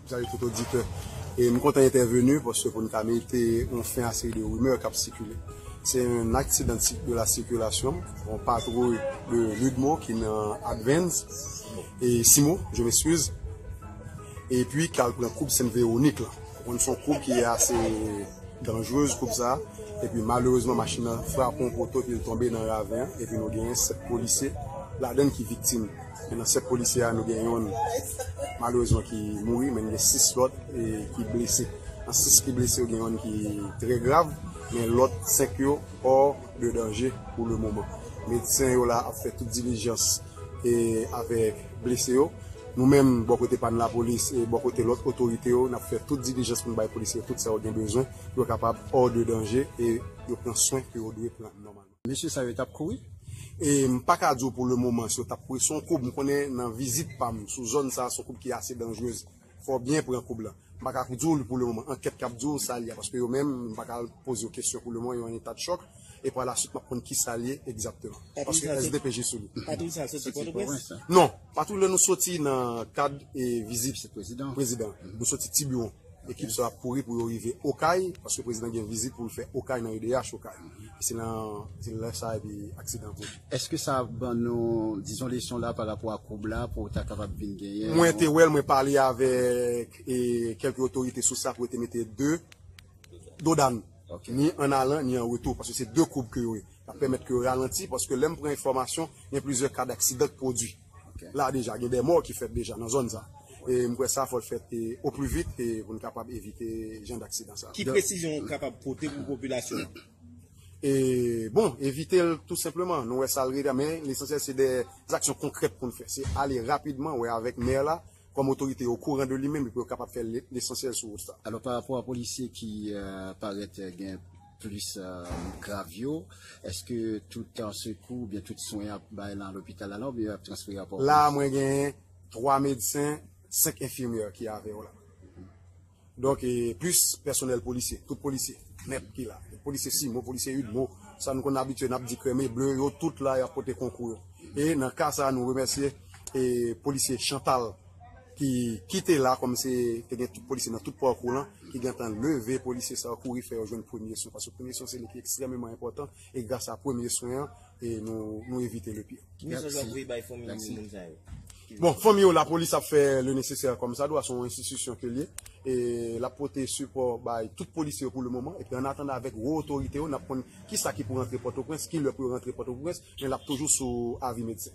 Salut tout oditè. E m kontan entèveni paske pou n ka mete yon fen a seri de rimè k ap sikile. Se yon aksidan de la sikilasyon, yon patwouy de Ludmo ki nan Advance, e Simo, je m'excuse, epi ki al pran koub Sent Vewonik la. Ou konn se yon koub ki ase danjrez koub sa a. Epi malerezman machin nan frape yon poto epi l tonbe nan raven an epi nou genyen 7 polisye ladann ki viktim. Men nan 7 polisye a nou gen yonn malerezman ki mouri men gen 6 lòt ki blese. Nan 6 ki blese yo gen yonn ki trè grav men lòt 5 yo hors de danger pou le moman. Medsen yo la ap fè tout dilijans avèk blese yo. Nou menm bò kote pa n lapolis e bò kote lòt otorite yo n ap fè tout dilijans pou n bay polisye yo tout sa yo gen bezwen pou yo kapab hors de danger e yo pran swen ke yo dwe pran nòmalman. Mesye sa yo tap kouri. E m pa ka di w pou le moman si yo tap kouri. Son koub m konnen nan vizit pa m sou zòn sa son koub ki ase danjrez. Fò w byen pran koub lan. M pa ka di w li pou le moman. Ankèt kap di w sa li a. Paske yo menm m pa ka al poze yo kesyon pou le moman yo an eta de chòk. E pa la swit map konn ki sa li egzapteman. Paske sdpj sou li. Patwouy sa soti Pòtoprens? Non. Patou lè nou soti nan kad vizit prezidan, nou soti Tiburon, ekip sa yo ap kouri pou yo rive Okay, paske prezidan gen vizit pou l fè Okay nan edh Okay. Se nan lè sa epi aksidan an pwodui. Eske sa ban nou dizon leson la pa rapò a koub la pou ta kapab vin genyen yon. Mwen te wè l, mwen pale avèk kèlke otorite sou sa pou yo te mete 2 dodàn ni an alan ni an retou paske se 2 koub ke yo ye. L ap pèmèt ke yo ralanti, paske lè m pran enfòmasyon, gen plizyè ka daksidan k pwodui la deja. Gen de mò ki fèt deja nan zòn sa. E m kwè sa fò l fèt oplivit pou n kapab evite jan daksidan sa. Ki presizyon ou kapab pote pou popilasyon an? E bon, evite l tou senpleman. Nou wè sa l reta, men lesansyèl se de zaksyon konkrèt pou n fè. Se ale rapidman wè avèk mè la, kòm otorite yo okouran de li menm, epi yo kapab fè lesansyèl sou wout sa. Alò, parapò a polisye ki parèt gen. plis grav yo eske tout sekou oubyen tout swen yap bay lan lopital la la oubyen yap transfere a pòtoprens. La a mwen genyen 3 medsen, 5 enfimyè ki avè yo la. Donk e plis pèsonèl polisye, tout polisye nèt ki la. Polisye simo, polisye udmo, sa nou konn abitye nap di krèm e ble yo tout la yap pote konkou yo. E nan ka sa nou remèsye e polisye chantal. ki kite la kòm se te gen tout polisye nan tout pakou lan ki gentan leve polisye sa yo kouri fè yo jwenn premye swen paske premye swen se li ki ekstrememan enpòtan e gras a premye swen an nou evite le pire. Ki mesaj wap voye bay fanmi moun sa yo? Bon fanmi yo lapolis ap fè le nesesè kòm sa dwa se yon enstitisyon ke l ye e lap pote sipò bay tout polisye yo pou le moman epi an atandan avèk wo otorite yo nap konn kisa ki pou rantre pòtoprens kilè pou yo rantre pòtoprens men lap toujou sou avi medsen.